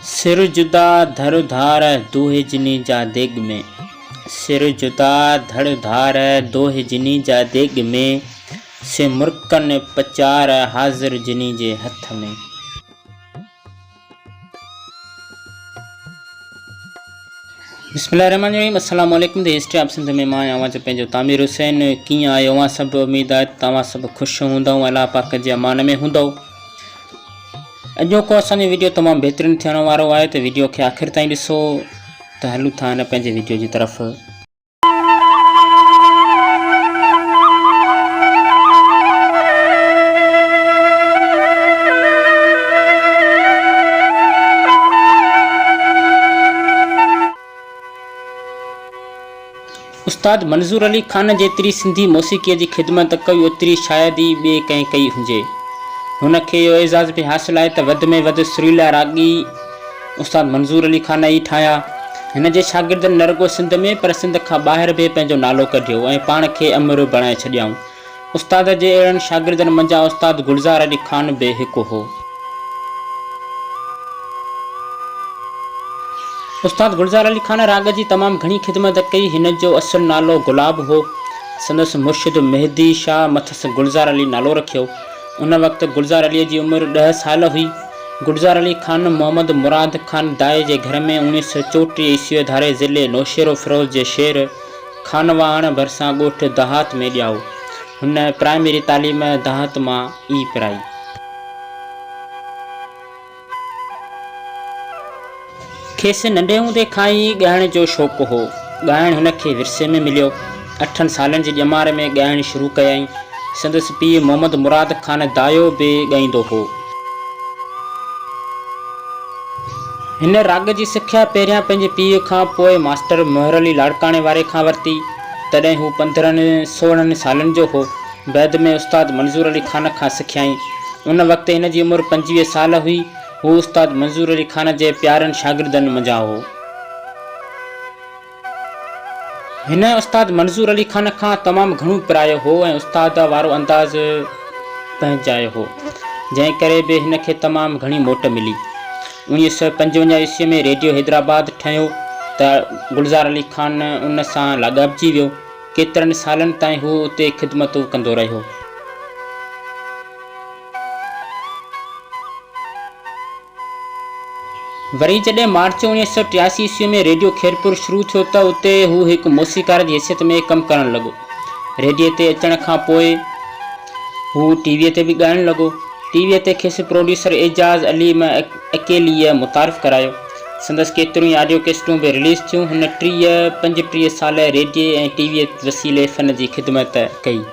سر جدا ڌڙ ڌار دوهي جني جا ديڳ ۾. سر جدا ڌڙ ڌار دوهي جني جا ديڳ ۾. سي مرڪن پچار حاضر جني جي هٿ ۾. بسم الله الرحمن الرحيم السلام عليڪم دي هسٽري آف سنڌ ۾ مان آهيان اوهان جو پنهنجو تعمير حسين ڪيئن آهيو اوهان سڀ اميد آهي ته توهان سڀ خوش هوندئون الله پاڪ جي امان ۾ هوندئو اڄوڪو اسان جو ويڊيو تمام بهترين ٿيڻ وارو آهي ته ويڊيو کي آخر تائين ڏسو ته هلون ٿا هن پنهنجي ويڊيو جي طرف استاد منظور علي خان جيتري سنڌي موسيقيء جي خدمت ڪئي اوتري شايد ئي ٻئي ڪنهن ڪئي هجي. هن کي اهو اعزاز به حاصل آهي ته وڌ ۾ وڌ سريلا راڳي استاد منظور علي خان ئي ٺاهيا. هن جي شاگردن نه رڳو سنڌ ۾ پر سنڌ کان ٻاهر به پنهنجو نالو ڪڍيو ۽ پاڻ کي امر بڻائي ڇڏيائون. استاد جي اهڙن شاگردن منجهان استاد گلزار علي خان به هڪ هو. استاد گلزار علي خان راڳ جي تمام گهڻي خدمت ڪئي. هن جو اصل نالو گلاب هو. سندس مرشد مهدي شاهه مٿس گلزار علي نالو رکيو. ان وقت گلزار عليء جي عمر ڏهه سال هئي. گلزار علي خان محمد مراد خان دائي جي گهر ۾ اوڻيهه سؤ چوٽيهه عيسويء ڌاري ضلعي نوشهروفيروز جي شير خانواهڻ ڀرسان ڳوٺ دهات ۾ ڄائو. هن پرائمري تعليم دهات مان ئي پرائي. کيس ننڍي هوندي کان ئي ڳائڻ جو شوق هو. ڳائڻ هن کي ورثي ۾ مليو. اٺن سالن جي ڄمار ۾ ڳائڻ شروع ڪيائين. سندس پيء محمد مراد خان دايو به ڳائيندو هو. هن راڳ جي سکيا پهريان پنهنجي پيء کان پوء ماسٽر مهر علي لاڙڪاڻي واري کان ورتي، تڏهن هو پندرهن سورهن سالن جو هو. بعد ۾ استاد منظور علي خان کان سکيائين. ان وقت هن جي عمر پنجويهه سال هئي. هو استاد منظور علي خان جي پيارن شاگردن منجهان هو. هن استاد منظور علي خان کان تمام گهڻو پرايو هو ۽ استاد وارو انداز پنهنجايو هو، جنهن ڪري به هن کي تمام گهڻي موٽ ملي. اوڻيهه سؤ پنجونجاهه عيسويء ۾ ريڊيو حيدرآباد ٺهيو ته گلزار علي خان ان سان لاڳاپجي ويو. ڪيترن سالن تائين هو اتي خدمتون ڪندو رهيو. وري جڏهن مارچ اوڻيهه سؤ ٽياسي عيسوي ۾ ريڊيو خيرپور شروع ٿيو ته اتي هو هڪ موسيقار جي حيثيت ۾ ڪم ڪرڻ لڳو. ريڊيو تي اچڻ کان پوء هو ٽي ويء تي به ڳائڻ لڳو. ٽي ويء تي کيس پروڊيوسر اعجاز علي م اڪيليء متعارف ڪرايو. سندس ڪيتريون ئي آڊيو ڪيسٽون به رليز ٿيون. هن ٽيهه پنجٽيهه سال ريڊيو ۽ ٽي ويء وسيلي فن جي خدمت ڪئي.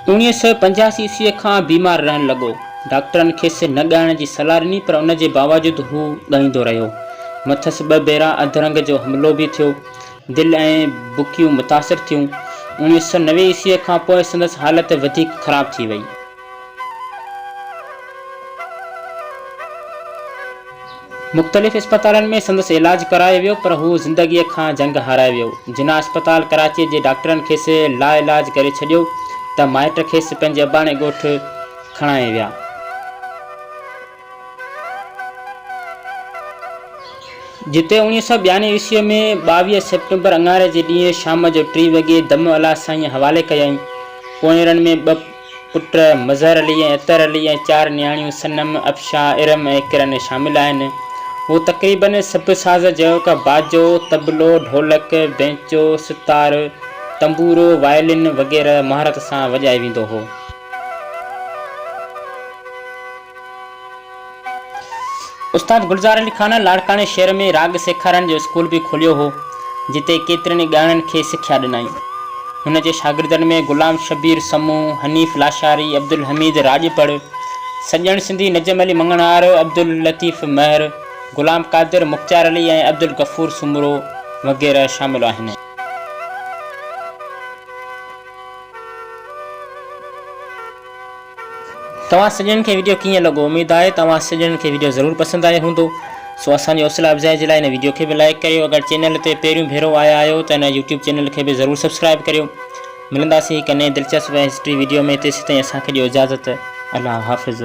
اوڻيهه سؤ پنجاهه عيسويء کان بيمار رهڻ لڳو. ڊاڪٽرن کيس نه ڳائڻ جي صلاح ڏني پر ان جي باوجود هو ڳائيندو رهيو. مٿس ٻه ڀيرا اڌرنگ جو حملو به ٿيو. دل ۽ بڪيون متاثر ٿيون. اوڻيهه سؤ نوي عيسويء کان پوء سندس حالت وڌيڪ خراب ٿي وئي. مختلف اسپتالن ۾ سندس علاج ڪرايو ويو پر هو زندگيء کان جنگ هارائي ويو. جناح اسپتال ڪراچيء جي ڊاڪٽرن کيس لاعلاج ڪري ڇڏيو ته مائٽ کيس پنهنجي اباڻي ڳوٺ کڻائي ويا. جتي اوڻيهه سؤ ٻيانوي عيسويء ۾ ٻاويهه سيپٽمبر اڱاري جي ڏينهن شام جو ٽي وڳي دم الله سائينء حوالي ڪيائين. پوئيرن ۾ ٻه پٽ مظهر علي ۽ عطر علي ۽ چار نياڻيون صنم، افشا، ارم ۽ ڪرن شامل آهن. هو تقريباً سڀ ساز جهڙوڪ باجو، طبلو، ڍولڪ، بينچو، ستار، تنبورو، وائلن وغيره مهارت سان وڄائي ويندو هو. استاد گلزار علي خان لاڙڪاڻي شهر ۾ راڳ سيکارڻ جو اسڪول به کوليو هو، جتي ڪيترن ئي ڳائڻن کي سکيا ڏنائين. هن جي شاگردن ۾ غلام شبير سمون، حنيف لاشاري، عبدالحميد راڄپڙ، سڄڻ سنڌي، نجم علي مڱڻهار، عبداللطيف مهر، غلام قادر، مختيار علي ۽ عبدالغفور سومرو وغيره شامل آهن. توهان سڄڻن کي وڊيو ڪيئن لڳو اميد آهي ته اوهان سڄڻن کي وڊيو ضرور پسند آيو هوندو سو اسان جي حوصلا افزائي جي لاء هن وڊيو کي به لائيڪ ڪريو اگر چينل تي پهريون ڀيرو آيا آهيو ته هن يوٽيوب چينل کي به ضرور سبسڪرائيب ڪريو ملنداسين هڪ نئين دلچسپ ۽ هسٽري وڊيو ۾ تيسيتائين اسان کي ڏيو اجازت الله حافظ.